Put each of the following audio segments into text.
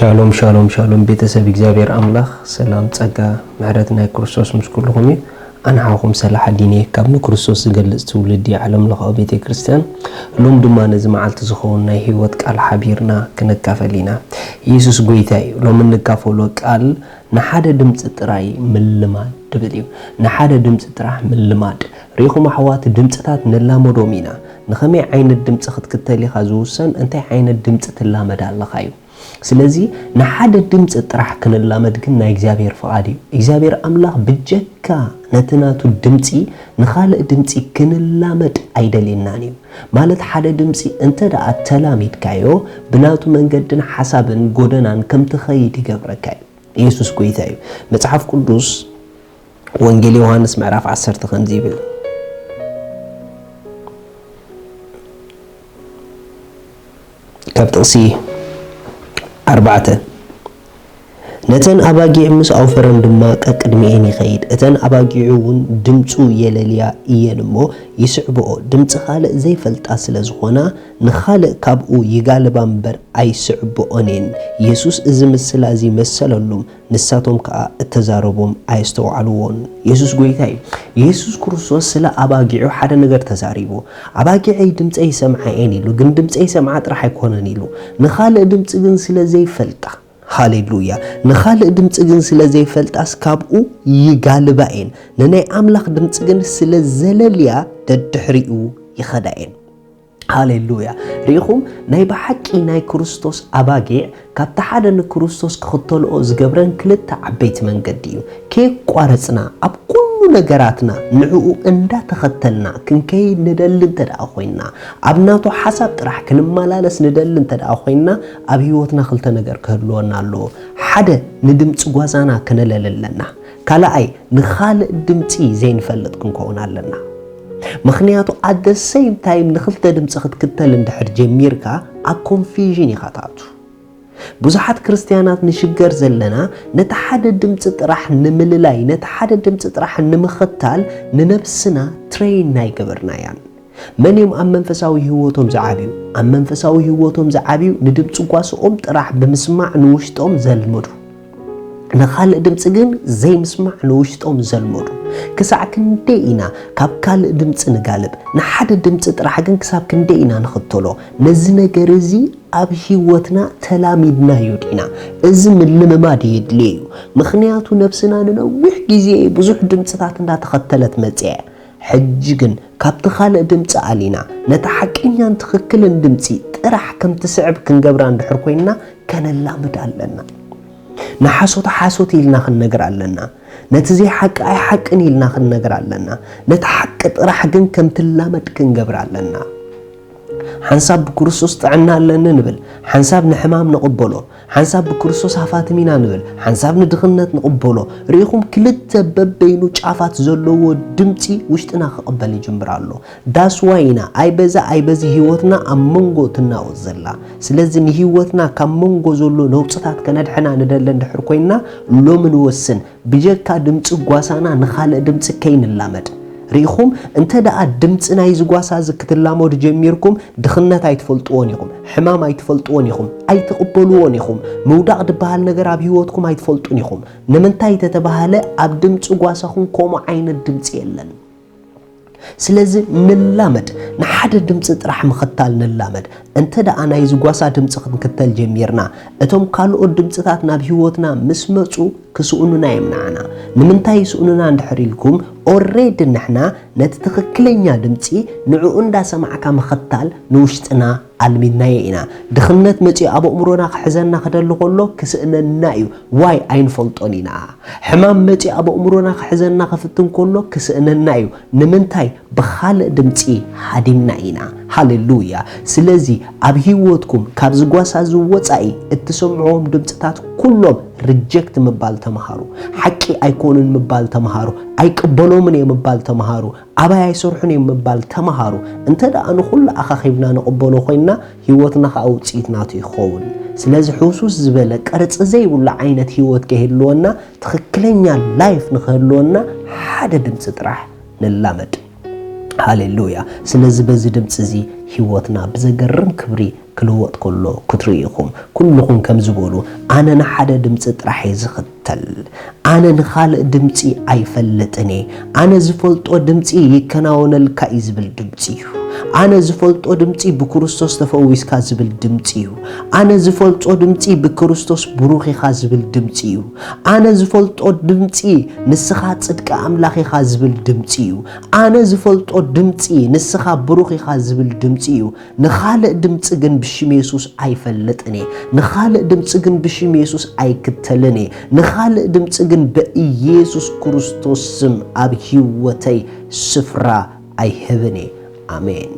ሻሎም ሻሎም ሻሎም ቤተሰብ እግዚኣብሔር ኣምላኽ ሰላም ጸጋ ምሕረት ናይ ክርስቶስ ምስ ኩልኹም እዩ ኣንሓኹም ሰላሕ ኣዲነ ካብ ንክርስቶስ ዝገልጽ ትውልዲ ዓለም ለኻዊ ቤተ ክርስቲያን ሎም ድማ ነዚ መዓልቲ ዝኸውን ናይ ህይወት ቃል ሓቢርና ክንካፈል ኢና ኢየሱስ ጎይታ እዩ ሎም እንካፈሎ ቃል ንሓደ ድምፂ ጥራይ ምልማድ ድብል እዩ ንሓደ ድምፂ ጥራሕ ምልማድ ሪኹም ኣሕዋት ድምፅታት ንላመዶም ኢና ንኸመይ ዓይነት ድምጺ ክትክተል ኢኻ ዝውሰን እንታይ ዓይነት ድምጺ ትላመድ ኣለኻ እዩ። ስለዚ ንሓደ ድምጺ ጥራሕ ክንላመድ ግን ናይ እግዚኣብሔር ፍቓድ እዩ። እግዚኣብሔር ኣምላኽ ብጀካ ነቲ ናቱ ድምጺ ንኻልእ ድምጺ ክንላመድ ኣይደልየናን እዩ። ማለት ሓደ ድምጺ እንተ ደኣ ተላሚድካዮ ብናቱ መንገድን ሓሳብን ጎደናን ከም ትኸይድ ይገብረካ እዩ። ኢየሱስ ጎይታ እዩ። መጽሓፍ ቅዱስ ወንጌል ዮሃንስ ምዕራፍ ዓሰርተ ከምዚ ይብል፣ ካብ ጥቕሲ ኣርባዕተ፣ ነተን ኣባጊዕ ምስ ኣውፈረን ድማ ቀቅድሚኤን ይኸይድ፣ እተን ኣባጊዑ እውን ድምፁ የለልያ እየን እሞ ይስዕብኦ፣ ድምፂ ኻልእ ዘይፈልጣ ስለ ዝኾና ንኻልእ ካብኡ ይጋልባ እምበር ኣይስዕብኦን እየን። የሱስ እዚ ምስላ እዚ መሰለሉም፣ ንሳቶም ከኣ እተዛረቦም ኣየስተውዓልዎን። የሱስ ጐይታ እዩ። የሱስ ክርስቶስ ስለ ኣባጊዑ ሓደ ነገር ተዛሪቡ። ኣባጊዐይ ድምጸይ ይሰምዓ እየን ኢሉ፣ ግን ድምጸይ ይሰምዓ ጥራሕ ኣይኰነን ኢሉ፣ ንኻልእ ድምጺ ግን ስለ ዘይፈልጣ። ሃሌ ሉያ! ንኻልእ ድምጺ ግን ስለ ዘይፈልጣስ ካብኡ ይጋልባ እየን፣ ንናይ ኣምላኽ ድምጺ ግን ስለ ዘለልያ ደድሕሪኡ ይኸዳ እየን። ሃሌሉያ ርኢኹም ናይ ብሓቂ ናይ ክርስቶስ ኣባጊዕ ካብቲ ሓደ ንክርስቶስ ክኽተልኦ ዝገብረን ክልተ ዓበይቲ መንገዲ እዩ ከየቋረጽና ኣብ ኩሉ ነገራትና ንዕኡ እንዳተኸተልና ክንከይድ ንደሊ እንተ ደኣ ኮይንና ኣብ ናቱ ሓሳብ ጥራሕ ክንመላለስ ንደሊ እንተ ደኣ ኮይንና ኣብ ህይወትና ክልተ ነገር ክህልወና ኣለዎ ሓደ ንድምፂ ጓዛና ክነለሊ ኣለና ካልኣይ ንኻልእ ድምፂ ዘይንፈልጥ ክንከውን ኣለና ምኽንያቱ ኣት ዘ ሰይም ታይም ንኽልተ ድምጺ ክትክተል እንድሕር ጀሚርካ ኣብ ኮንፊዥን ኢኻ ትኣቱ። ብዙሓት ክርስትያናት ንሽገር ዘለና ነቲ ሓደ ድምጺ ጥራሕ ንምልላይ ነቲ ሓደ ድምጺ ጥራሕ ንምኽታል ንነብስና ትረይን ኣይገበርናያን። መን እዮም ኣብ መንፈሳዊ ህይወቶም ዝዓብዩ? ኣብ መንፈሳዊ ህይወቶም ዝዓብዩ ንድምጺ ጓሶኦም ጥራሕ ብምስማዕ ንውሽጦም ዘልምዱ። ንኻልእ ድምጺ ግን ዘይምስማዕ ንውሽጦም ዘልመዱ፣ ክሳዕ ክንደይ ኢና ካብ ካልእ ድምጺ ንጋልብ፣ ንሓደ ድምጺ ጥራሕ ግን ክሳብ ክንደይ ኢና ንኽተሎ? ነዚ ነገር እዚ ኣብ ህይወትና ተላሚድናዮ ዲና? እዚ ምልምማድ የድልዮ እዩ፣ ምኽንያቱ ነብስና ንነዊሕ ግዜ ብዙሕ ድምጽታት እንዳተኸተለት መጺኣ እያ። ሕጂ ግን ካብቲ ካልእ ድምጺ ኣሊና ነታ ሓቀኛን ትኽክልን ድምጺ ጥራሕ ከም ትስዕብ ክንገብራ እንድሕር ኮይንና ከነላምዳ ኣለና። ንሓሶት ሓሶት ኢልና ክንነግራ ኣለና። ነቲ ዘይሓቂ ኣይሓቅን ኢልና ክንነግራ ኣለና። ነታ ሓቂ ጥራሕ ግን ከም ትላመድ ክንገብራ ኣለና። ሓንሳብ ብክርስቶስ ጥዕና ኣለኒ ንብል፣ ሓንሳብ ንሕማም ንቕበሎ፣ ሓንሳብ ብክርስቶስ ሃፋትም ኢና ንብል ሓንሳብ ንድኽነት ንቕበሎ ርኢኹም ክልተ በበይኑ ጫፋት ዘለዎ ድምጺ ውሽጥና ክቕበል ይጅምር ኣሎ ዳስ ዋይ ኢና ኣይ በዛ ኣይ በዚ ሂወትና ኣብ መንጎ ትናወጽ ዘላ ስለዚ ንሂወትና ካብ መንጎ ዘሎ ነውጽታት ከነድሕና ንደለ እንድሕር ኮይና ሎሚ ንወስን ብጀካ ድምጺ ጓሳና ንኻልእ ድምጺ ከይንላመድ። ርኢኹም እንተ ደኣ ድምጺ ናይዚ ጓሳ እዚ ክትላመዱ ጀሚርኩም ድኽነት ኣይትፈልጥዎን ኢኹም፣ ሕማም ኣይትፈልጥዎን ኢኹም፣ ኣይትቕበልዎን ኢኹም፣ ምውዳቕ ድበሃል ነገር ኣብ ህይወትኩም ኣይትፈልጡን ኢኹም። ንምንታይ ተተባህለ ኣብ ድምጺ ጓሳኹም ከምኡ ዓይነት ድምጺ የለን። ስለዚ ንላመድ፣ ንሓደ ድምጺ ጥራሕ ምኽታል ንላመድ። እንተ ደኣ ናይዚ ጓሳ ድምጺ ክንክተል ጀሚርና፣ እቶም ካልኦት ድምጺታት ናብ ህይወትና ምስ መጹ ክስእኑና እዮም ንዓና። ንምንታይ ይስእኑና እንድሕር ኢልኩም፣ ኦሬዲ ንሕና ነቲ ትኽክለኛ ድምጺ ንዕኡ እንዳሰማዕካ ምኽታል ንውሽጥና ኣልሚድናዮ ኢና ድኽነት መጺኡ ኣብ ኣእምሮና ክሕዘና ክደሊ ከሎ ክስእነና እዩ ዋይ ኣይንፈልጦን ኢና ሕማም መጺኡ ኣብ ኣእምሮና ክሕዘና ክፍትን ከሎ ክስእነና እዩ ንምንታይ ብኻልእ ድምጺ ሃዲምና ኢና ሃሌሉያ ስለዚ ኣብ ህይወትኩም ካብዚ ጓሳ እዚ ወጻኢ እትሰምዕዎም ድምጽታት ኩሎም ሪጀክት ምባል ተምሃሩ ሓቂ ኣይኮኑን ምባል ተምሃሩ ኣይቅበሎምን እየ ምባል ተምሃሩ ኣባይ ኣይሰርሑን እዮም ምባል ተማሃሩ። እንተ ደኣ ንኹሉ ኣኻኺብና ንቕበሎ ኮይንና፣ ህይወትና ኸኣ ውጽኢት ናቱ እዩ ክኸውን። ስለዚ ሕውስውስ ዝበለ፣ ቅርጺ ዘይብሉ ዓይነት ህይወት ከይህልወና፣ ትኽክለኛ ላይፍ ንኽህልወና ሓደ ድምጺ ጥራሕ ንላመድ። ሃሌ ሉያ! ስለዚ በዚ ድምጺ እዚ ህይወትና ብዘገርም ክብሪ ክልወጥ ከሎ ክትርእዩ ኢኹም። ኩሉኹም ከምዚ በሉ፣ ኣነ ንሓደ ድምጺ ጥራሕ እየ ዝኽተል። ኣነ ንኻልእ ድምጺ ኣይፈልጥን እየ። ኣነ ዝፈልጦ ድምጺ ይከናወነልካ እዩ ዝብል ድምጺ እዩ። ኣነ ዝፈልጦ ድምጺ ብክርስቶስ ተፈዊስካ ዝብል ድምጺ እዩ። ኣነ ዝፈልጾ ድምጺ ብክርስቶስ ብሩኽ ኢኻ ዝብል ድምጺ እዩ። ኣነ ዝፈልጦ ድምጺ ንስኻ ጽድቂ ኣምላኽ ኢኻ ዝብል ድምጺ እዩ። ኣነ ዝፈልጦ ድምጺ ንስኻ ብሩኽ ኢኻ ዝብል ድምጺ እዩ። ንኻልእ ድምጺ ግን ብሽም የሱስ ኣይፈልጥን እየ። ንኻልእ ድምጺ ግን ብሽም የሱስ ኣይክተልን እየ። ንኻልእ ድምጺ ግን በኢየሱስ ክርስቶስ ስም ኣብ ህይወተይ ስፍራ ኣይህብን እየ። ኣሜን።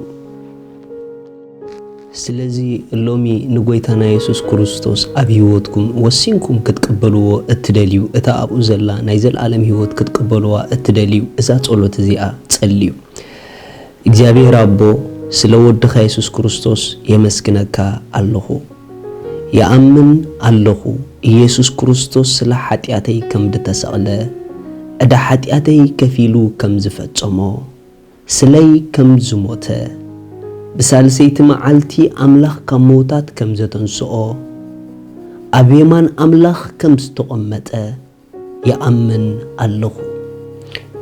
ስለዚ ሎሚ ንጎይታና የሱስ ክርስቶስ ኣብ ህይወትኩም ወሲንኩም ክትቅበልዎ እትደልዩ እታ ኣብኡ ዘላ ናይ ዘለኣለም ህይወት ክትቅበልዋ እትደልዩ እዛ ጸሎት እዚኣ ጸልዩ። እግዚኣብሔር ኣቦ ስለ ወድኻ የሱስ ክርስቶስ የመስግነካ ኣለኹ ይኣምን ኣለኹ ኢየሱስ ክርስቶስ ስለ ሓጢኣተይ ከምድተሰቅለ ዕዳ ሓጢኣተይ ከፊሉ ከምዝፈጸሞ ስለይ ከምዝሞተ ብሳልሰይቲ መዓልቲ ኣምላኽ ካብ ምውታት ከምዘተንስኦ ኣብ የማን ኣምላኽ ከምዝተቆመጠ ይኣምን ኣለኹ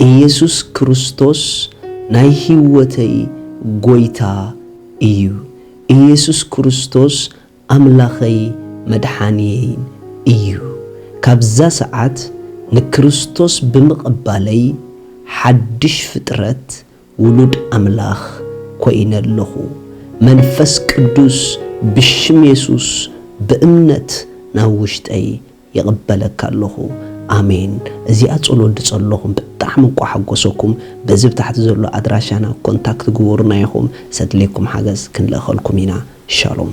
ኢየሱስ ክርስቶስ ናይ ሕይወተይ ጎይታ እዩ ኢየሱስ ክርስቶስ ኣምላኸይ መድሓንየይን እዩ ካብዛ ሰዓት ንክርስቶስ ብምቕባለይ ሓድሽ ፍጥረት ውሉድ ኣምላኽ ኮይነ ኣለኹ መንፈስ ቅዱስ ብሽም የሱስ ብእምነት ናብ ውሽጠይ ይቅበለካ ኣለኹ ኣሜን እዚኣ ጸሎት ድጸለኹም ብጣዕሚ እኳ ሓጎሰኩም በዚ ብ ታሕቲ ዘሎ ኣድራሻና ኮንታክት ግበሩና ኢኹም ዘድልየኩም ሓገዝ ክንልእኸልኩም ኢና ሻሎም።